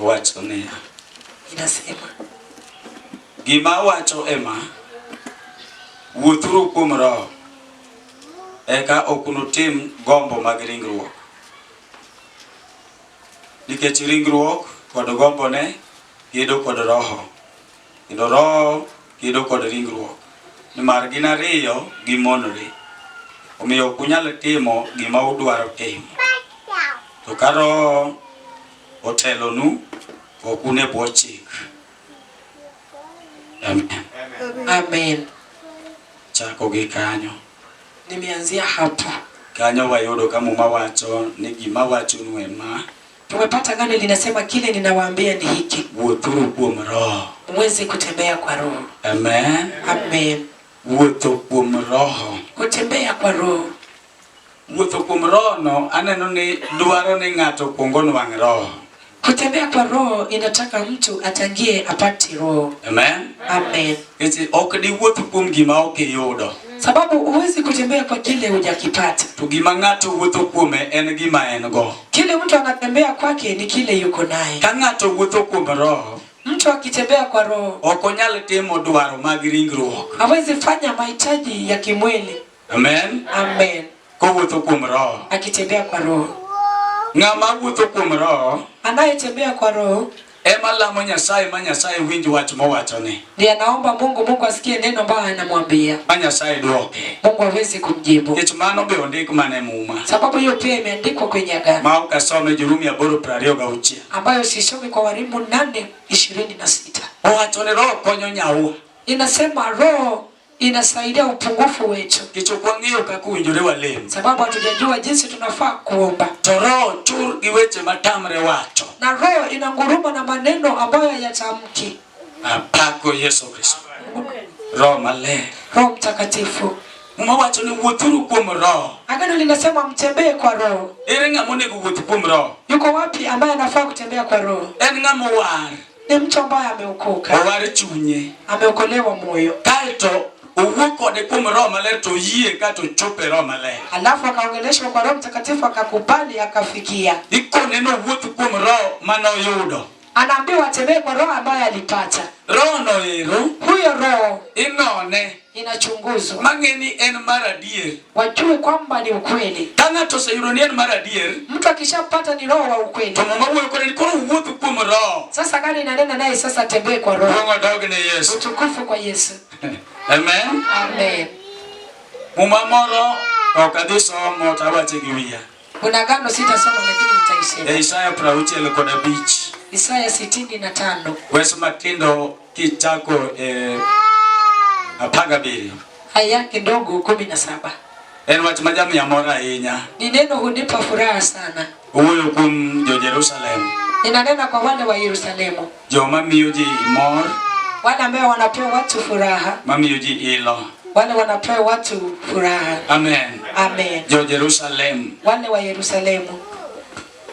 Owacho niya, Inasema, Gima awacho ema, wuothuru kuom Roho, eka ok unutim gombo mag ringruok. Nikech ringruok kod gombone gedo kod Roho. Kendo Roho kedo kod ringruok, nimar gin ariyo gimonore. Omiyo ok unyal timo gima udwaro timo. To ka Roho otelonu, ok un e bwo chik. Amen. Amen. Chako gi kanyo. Nimeanzia hapo. Kanyo wayudo ka Muma wacho ni gima wachonu ema. Tumepata gano linasema kile ninawaambia ni hiki. Wuothuru kuom Roho. Mweze kutembea kwa Roho. Amen. Amen. Wuotho kuom Roho. Kutembea kwa Roho. Wuotho kuom Roho no aneno ni dwaro ni ng'ato kuongo onwang' Roho. Kutembea kwa Roho inataka mtu atangie apate Roho. Amen. Amen. Isi ok diwuoth kuom gima ok iyudo. Sababu huwezi kutembea kwa kile hujakipata. To gima ng'ato wuotho kuome en gima en go. Kile mtu anatembea kwake ni kile yuko naye. Ka ng'ato wuotho kuom Roho, Mtu akitembea kwa Roho ok onyal timo dwaro mag ringruok. hawezi fanya mahitaji ya kimwili. Amen. Amen. Kowuotho kuom Roho. Akitembea kwa Roho. Ng'ama wuotho kuom Roho Anayetembea kwa Roho Ema lamo Nyasaye ma Nyasaye winj wach mowachone. Ndiye anaomba Mungu, Mungu asikie neno ambayo anamwambia. Ma Nyasaye dwoke. Mungu hawezi kumjibu. Nikech mano be ondik mana e Muma. Sababu hiyo pia imeandikwa kwenye Agano. Ma ok asome Jorumi aboro piero ariyo gauchiel. Ambayo sisomi kwa Warumi nane ishirini na sita. Owacho ni Roho konyo nyawa. Inasema Roho inasaidia upungufu wetu, kicho kwang'eyo kaka uwinjore walem, sababu hatujajua jinsi tunafaa kuomba. To roho tur gi weche matamre wacho, na roho inanguruma na maneno ambayo hayatamki. Apako Yesu Kristo, roho maler, roho mtakatifu Umewacho ni wuothuru kuom roho. Agano linasema mtembee kwa roho. Ere ng'ama onego wuoth kuom roho? Yuko wapi ambaye anafaa kutembea kwa roho? En ng'ama owar. Ni mtu ambaye ameokoka. Owar chunye. Ameokolewa moyo. Kaito owuo kode kuom Roho Maler to oyie kato ochopo e Roho Maler. Alafu akaongeleshwa kwa Roho Mtakatifu akakubali akafikia. Ikone ni owuoth kuom Roho mane oyudo. Anaambiwa atembee kwa Roho ambayo alipata. Roho no ero. Huyo Roho. Inone. inachunguzwa mang'e ni en mar adier, wajue kwamba ni ukweli. Ka ng'ato oseyudo ni en mar adier, mtu akishapata ni roho wa ukweli, to mama wuoyo kode ni koro wuotho kuom roho. Sasa gari inanena naye sasa, tembee kwa roho. Roho dog ne Yesu, utukufu kwa Yesu. Amen, amen. Muma moro ok adhi somo to awache gi wiya. Kuna gano sitasoma lakini nitaishia. Isaya 65 kod abich. Isaya sitini na tano. Wes matindo Kichako eh, apar gabiriyo. Haya kidogo kumi na saba. En wach ma jamiya mor ahinya. Ni neno hunipa furaha sana. Owuoyo kuom jo Jerusalem. Inanena kwa wale wa Yerusalemu. Joma miyo ji mor. Wale ambao wanapewa watu furaha. Mamiyo ji ilo. Wale wanapewa watu furaha. Amen. Amen. Jo Jerusalem. Wale wa Yerusalemu.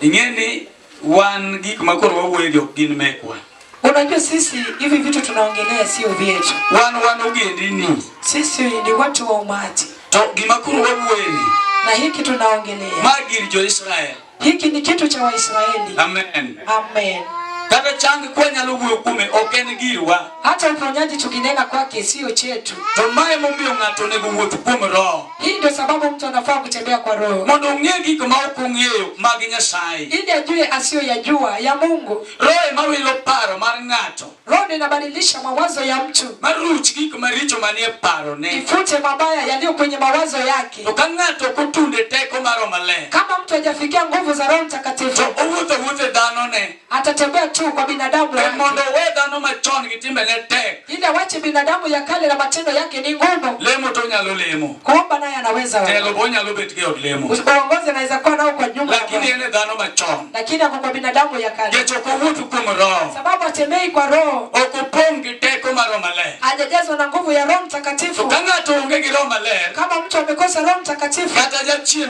Ingeni Wan gik ma koro wawuoye gi ok gin mekwa. Unajua sisi hivi vitu tunaongelea sio vyetu. Wan wan ogendini. Sisi ni watu wa umati. To gima koro wawuoye ni. Na hiki tunaongelea. Magir jo Israel. Hiki ni kitu cha Waisraeli. Amen. Amen. Kata chang kwa nyalo wuoyo kume ok en girwa. Hata uponyaji tukinena kwake sio chetu. To mae momiyo ng'ato onego wuoth kuom Roho. Hii ndio sababu mtu anafaa kutembea kwa Roho. Mondo ong'e gik ma ok ong'eyo mag Nyasaye. Ili ajue asiyoyajua ya Mungu. Roho ema wilo paro mar ng'ato. Roho ndio inabadilisha mawazo ya mtu. Maruch gik maricho manie parone. Ifute mabaya yaliyo kwenye mawazo yake. To ka ng'ato ok otunde teko mar Roho Maler. Kama mtu hajafikia nguvu za Roho Mtakatifu. To owuotho wuothe dhanone. atatembea tu kwa binadamu e mondo we dhano machon gi timbene tek ili awache binadamu ya kale na matendo yake ni ngumu lemo to onyalo lemo kuomba naye anaweza telo bo onyalo bet gi od lemo uongozi anaweza kuwa nao kwa nyumba lakini ene dhano machon lakini ako kwa binadamu ya kale kecho ko wutu kuom roho sababu atembei kwa roho okopong gi teko mar roho maler hajajazwa na nguvu ya roho mtakatifu kama ng'ato onge gi roho maler kama mtu amekosa roho mtakatifu kata jachien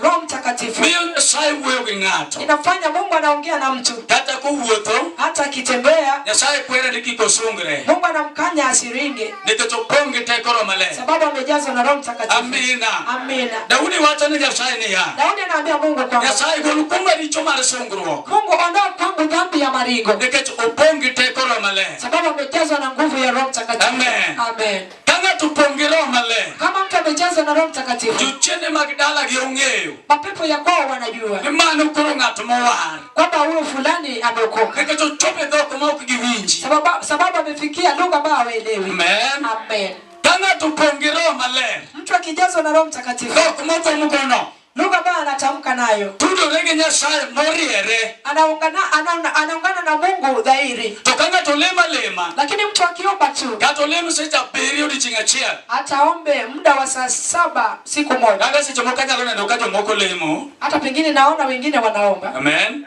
Roho Mtakatifu miyo Nyasaye wuoyo gi ng'ato, inafanya Mungu anaongea na mtu, kata kowuotho, hata akitembea, Nyasaye kwere ni kik osungre, Mungu anamkanya asiringe, nikech opong' gi teko Roho Maler, sababu amejazwa na Roho Mtakatifu. Amina. Amina. Daudi wacho ni Nyasaye niya, Daudi anaambia Mungu kwamba Nyasaye gol kuoma richo mar sungruok, Mungu ondoa kwangu dhambi ya maringo, nikech opong' gi teko Roho Maler. sababu amejazwa na nguvu ya Roho Mtakatifu. Amen. Amen. Ka ng'ato opong' gi Roho Maler, Kama mtu amejazwa na Roho Mtakatifu, jochiende mag dalagi ong'eyo mapepo ya kwao wanajua ni mano koro ng'at mowar, kwamba huyo fulani ameokoka, nikech ochopo e dhok ma ok giwinji. sababu, sababu amefikia lugha ambayo hawaelewi. Amen. Amen. Ka ng'ato opong' gi Roho Maler, Mtu akijazwa na Roho Mtakatifu, dhok mogomogono Lugha ambayo anatamka nayo. Tudore gi Nyasaye moriere. Anaungana anauna, anaungana na Mungu dhahiri. To ka ng'ato lemo alema. Lakini mtu akiomba tu. Kata olem seche abiriyo odiechieng' achiel. Ataombe muda wa saa saba siku moja. Kaka seche moko anyalo neno ka jomoko lemo. Hata pengine naona wengine wanaomba. Amen. Amen.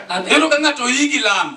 Amen. Neno ka ng'ato yigi lamo.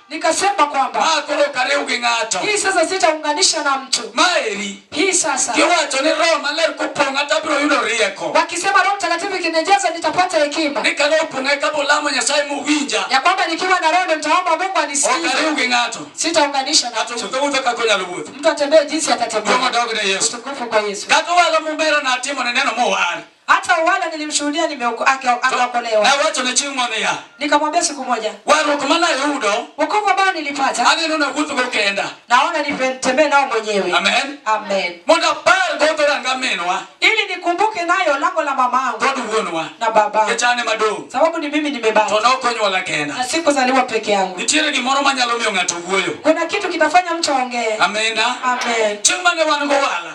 Nikasema kwamba makoro kariu gi ng'ato. Hii sasa sitaunganisha na mtu. Maeri. Hii sasa. Kiwacho ni Roho Maler kupong'a tabiro yudo rieko. Wakisema Roho Mtakatifu ikinijaza nitapata hekima. Nikalo pong'a kabo lamo Nyasaye muwinja. Ya kwamba nikiwa na Roho nitaomba Mungu anisikie. Okariu gi ng'ato. Sitaunganisha na mtu. Ng'ato wuotho kaka onyalo wuotho. Mtu atembee jinsi atatembea. Kutukufu kwa Yesu. Kata wala mumbera na timo ne neno mowar. Hata wala nilimshuhudia nimeokoka akaokolewa. Na wacho ne chieng' moro niya. Nikamwambia siku moja. Warruok mane ayudo. Wokovu ambao nilipata. Aneno na wuotho go kenda. Naona nitembee nao mwenyewe. Amen. Amen. Mondo apar go to ranga minwa. Ili nikumbuke nayo lango la mamangu. Kod wuonwa. Na baba. Kechane madong. Sababu ni mimi nimebaki. To nokonywa la kenda. Na sikuzaliwa peke yangu. Nitiere gimoro manyalo miyo ng'ato wuoyo. Kuna kitu kitafanya mtu aongee. Amina. Amen. Chieng' mane wan go wala.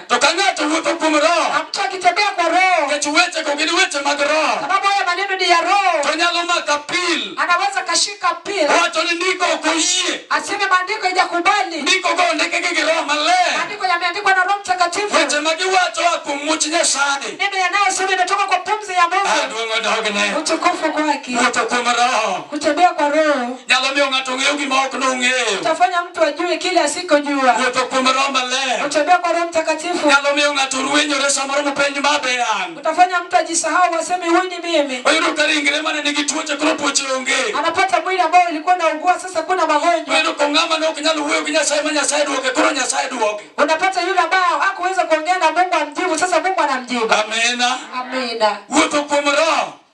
To ka ng'ato wuotho kuom Roho, na mtu akitembea kwa Roho, nikech wechego gin weche mag Roho, sababu haya maneno ni ya Roho, to nyalo maka pil anaweza kashika pili wacho ni ndiko ok oyie. aseme maandiko ijakubali Ndikogo ondikgi gi Roho Maler, maandiko yameandikwa na Roho Mtakatifu, weche ma giwacho a kuom much Nyasaye. neno yanayosema imetoka kwa pumzi ya Ah, Mungu, Duong' odogne utukufu kwake, wuotho kuom Roho. kutembea kwa Roho nyalo miyo ng'ato ng'eyo gima ok nong'eyo. Utafanya mtu ajue kile asikojua. Wuotho kuom Roho Maler. Kutembea kwa Roho Mtakatifu. Nyalo miyo ng'ato ruenyore samoro mopenj ma be an. Utafanya mtu ajisahau aseme huyu ni mimi. Oyudo ka ringre mane nigi tuoche koro tuoche onge. Anapata mwili ambao ulikuwa na ugua sasa kuna magonjwa. Oyudo ko ng'ama ne ok nyal wuoyo gi Nyasaye ma Nyasaye duoke koro Nyasaye duoke. Unapata yule ambao hakuweza kuongea na Mungu amjibu sasa Mungu anamjibu. Amina. Amina. Wuotho kuom Roho.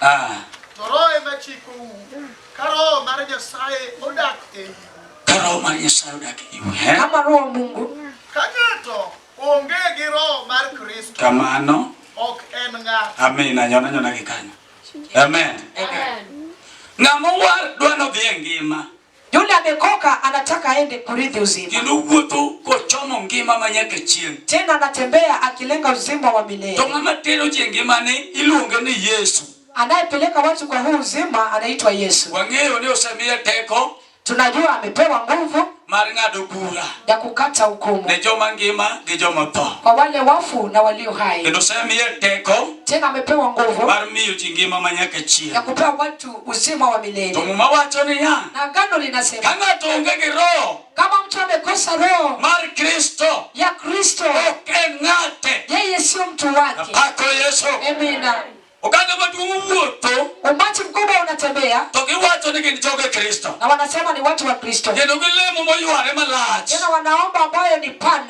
Ah. Ka roho mar Nyasaye odak e iu. Eh? Kama roho Mungu. Ka ng'ato onge gi roho mar Kristo. Kamano. Ok en ng'ato. Amen. Anyona nyona gi kanyo. Amen. Amen. Ng'ama war dwano dhi e ngima. Yule amekoka anataka aende kurithi uzima. Kendo wuotho kochomo ngima ma nyaka chieng'. Tena anatembea akilenga uzima wa milele. To ng'ama tero ji e ngimane iluonge ni Yesu. Anayepeleka watu kwa huu uzima anaitwa Yesu. Wang'eyo ni osemiye teko. Tunajua amepewa nguvu mar ng'ado bura ya kukata hukumu ne joma ngima gi joma tho, kwa wale wafu na walio hai. Kendo osemiye teko, tena amepewa nguvu mar miyo ji ngima ma nyaka chieng'. uzima wa milele. To Muma wacho niya, na agano linasema ka ng'ato onge gi roho kama mtu amekosa roho mar Kristo ya Kristo ok en ng'ate, yeye sio mtu wake. Napako Yesu. Amina. Oganda maduong' owuotho, umati mkubwa unatembea, to giwacho ni gin joge Kristo, na wanasema ni watu wa Kristo, kendo gilemo moyware malach, tena wanaomba ambayo ni pana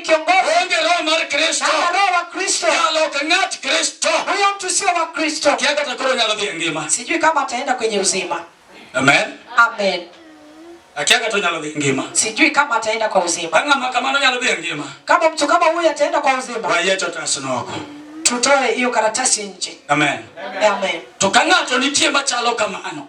kiongozi onge roho mar Kristo na roho wa Kristo nyalo ok ng'at Kristo huyo mtu sio wa Kristo kia kata koro nyalo dhi e ngima sijui kama ataenda kwenye uzima amen amen akia kata nyalo dhi e ngima sijui kama ataenda kwa uzima anga makamano nyalo dhi e ngima kama mtu kama huyo ataenda kwa uzima wayeto tasnoko tutoe hiyo karatasi nje amen amen tukang'ato nitie machalo kamano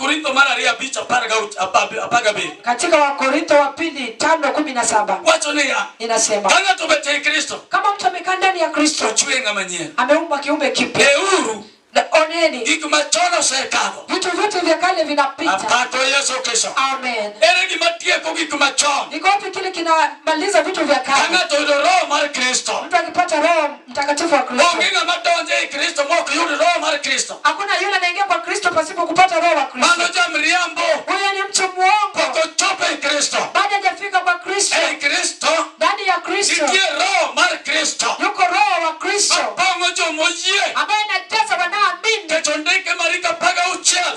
Wakorintho mara ariyo abich apar gabiriyo. Katika Wakorintho wa pili tano kumi na saba. Wacho niya. Inasema. Ka ng'ato obet ei Kristo. Kama mtu amekaa ndani ya Kristo. Ochwe ng'ama nyien. Ameumba kiumbe kipya. Euru. Oneni. Gik machon osekalo. Vitu vyote vya kale vinapita. Apato Yesu kesho. Amen. Ere gima tieko gik machon. Iko wapi kile kinamaliza vitu vya kale? Kama toyo roho mar Kristo. Mtu akipata roho mtakatifu wa Kristo. Onge ng'ama donjo ei Kristo ma ok yud roho mar Kristo. Hakuna yule anaingia kwa Kristo pasipo kupata roho wa Kristo. Mano jamriambo. Huyo ni mtu muongo. Pok ochopo ei Kristo. Bado hajafika kwa Kristo. Ei Kristo. Ndani ya Kristo. Nitie roho mar Kristo. Yuko roho wa Kristo. Mapong'o joma oyie. Ambaye anajaza wanaoamini. Keto ndike marika paga uchiel.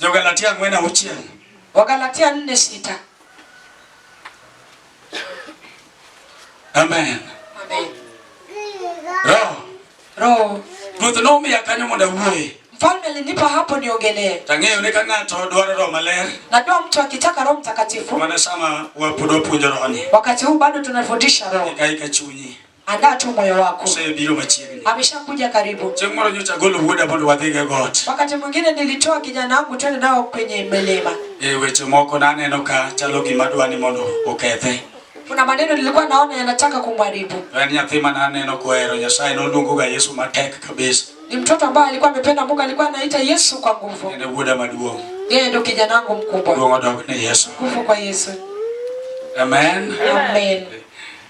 Jogalatia ang'wen auchiel. Wagalatia nne sita. Amen. Amen. Roho. Roho. Ruoth nomiya kanyo mondo awuoye. Mfalme alinipa hapo niongelee. Tang'eyo ni ka ng'ato dwaro roho maler. Najua mtu akitaka Roho Mtakatifu. Maana sama wapudo puonjo roho ni. Wakati huu bado tunafundisha roho. Ikaika chunyi. Andaa tu moyo wako. Usebiro machiegni. Ameshakuja karibu. Chieng' moro nyocha agolo wuoda mondo wadhi go got. Wakati mwingine nilitoa kijana wangu twende nao kwenye milima. E weche moko naneno ka chalo gima dwani mondo okethe. Kuna maneno nilikuwa naona yanataka kumharibu. En nyathi ma naneno kuhero Nyasaye noluongoga Yesu matek kabisa. Ni mtoto ambaye alikuwa amependa Mungu, alikuwa anaita Yesu kwa nguvu. Ndio wuoda maduong'. Yeye ndio kijana wangu mkubwa. Duong' odog ne Yesu. Nguvu kwa Yesu. Amen. Amen.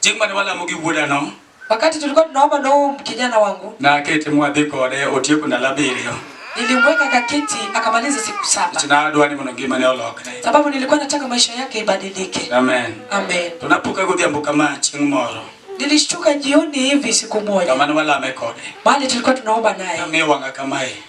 Chieng' mane walamo gi wuodano, Wakati tulikuwa tunaomba na huyu kijana wangu, nakete mwadhi kode otieko ndalo abiriyo nilimweka kakiti akamaliza siku saba, nikech nadwa ni mondo ngimane olokre. sababu nilikuwa nataka maisha yake ibadilike. Amen. Amen. To napuka godhiambo kama chieng' moro Nilishtuka jioni hivi siku moja kamane walame kode, mahali tulikuwa tunaomba naye, nang'iyo wang'a kamae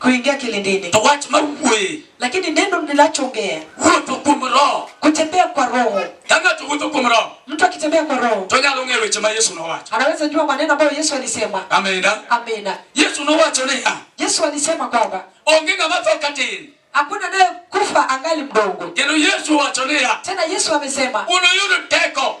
kuingia kilindini. To wach ma wuoye. Lakini neno ninachoongea. Wuotho kuom roho. Kutembea kwa roho. Ka ng'ato wuotho kuom roho. Mtu akitembea kwa roho. To nyalo ng'eyo weche ma Yesu nowacho. Anaweza jua maneno ambayo Yesu alisema. Amina. Amina. Yesu nowacho niya. Yesu alisema kwamba. Onge ng'ama tho katin. Hakuna naye kufa angali mdogo. Kendo Yesu wacho niya. Tena Yesu amesema. Unuyudo teko.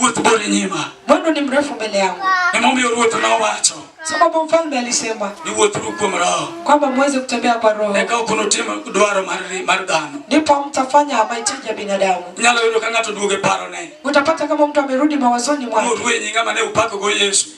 Wuoth bor e nyima. Mwendo ni mrefu mbele yangu. Emomiyo ruoth nowacho. Sababu mfalme alisema. Ni wuothuru kuom Roho. Kwamba muweze kutembea kwa Roho. Eka ok unutim dwaro mar mar dhano. Ndipo mtafanya mahitaji ya binadamu. Nyalo yudo ka ng'ato duoge parone. Utapata kama mtu amerudi mawazoni mwake. Muruenyi ng'ama ne upako go Yesu.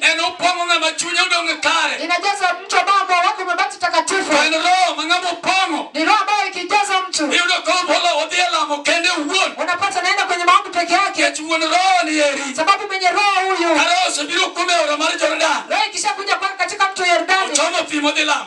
En opong'o ng'ama chunye odong' kare. Inajaza mtu ambao moyo wako umebaki takatifu. En roho ma ng'ama opong'o. Ni roho ambayo ikijaza mtu. Iyudo ka opolo odhi e lamo kende owuon. Unapata naenda kwenye maombi peke yake. Nikech wuon roho ni eri. Sababu mwenye roho huyu. Ka roho osebiro kume ora mar Jordan. Roho ikishakuja kwake katika mto Yordani. Ochomo pi modhi lamo.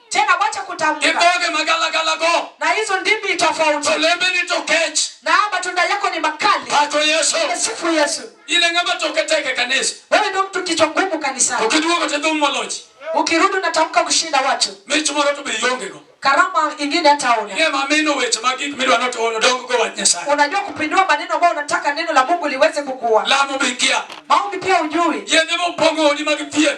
Tena wacha Gi kutamka. dhoge magalagalago. Na hizo ndimi To tofauti. lembeni to kech. Na matunda yako ni makali. Pako Yesu. Sifu Yesu. In e ng'ama toke tek e kanisa. Wewe ndio mtu kichwa ngumu To kanisani. kiduogo to idhum molochi. Ukirudi unatamka kushinda watu. Mich moro to be iongego. Karama ingine hata una. Ing'e ma mino weche mag gik midwa ni oto- odonggo wach Nyasaye. Unajua kupindua maneno ambayo unataka neno la Mungu liweze kukua. Lamo be ikia. Maombi pia ujui. Yedhe mopong'o odi mag thieth.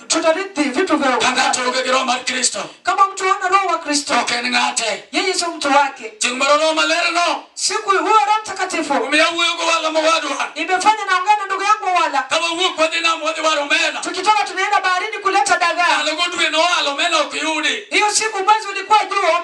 tutarithi vitu vya Kaka ufalme. tuonge gi roho mar Kristo. Kama mtu hana roho wa Kristo, Ok en ng'ate. yeye sio mtu wake. Chieng' moro roho maler no. Siku huyo Roho Mtakatifu Omiyo awuoyo go wala mowadwa. imefanya naongea na ndugu yangu wala Ka wawuok wadhi nam wadhi waro omena. tukitoka tunaenda baharini kuleta dagaa. Ndalogo dwe nowalo omena ok yudi. Hiyo siku mwezi ulikuwa juu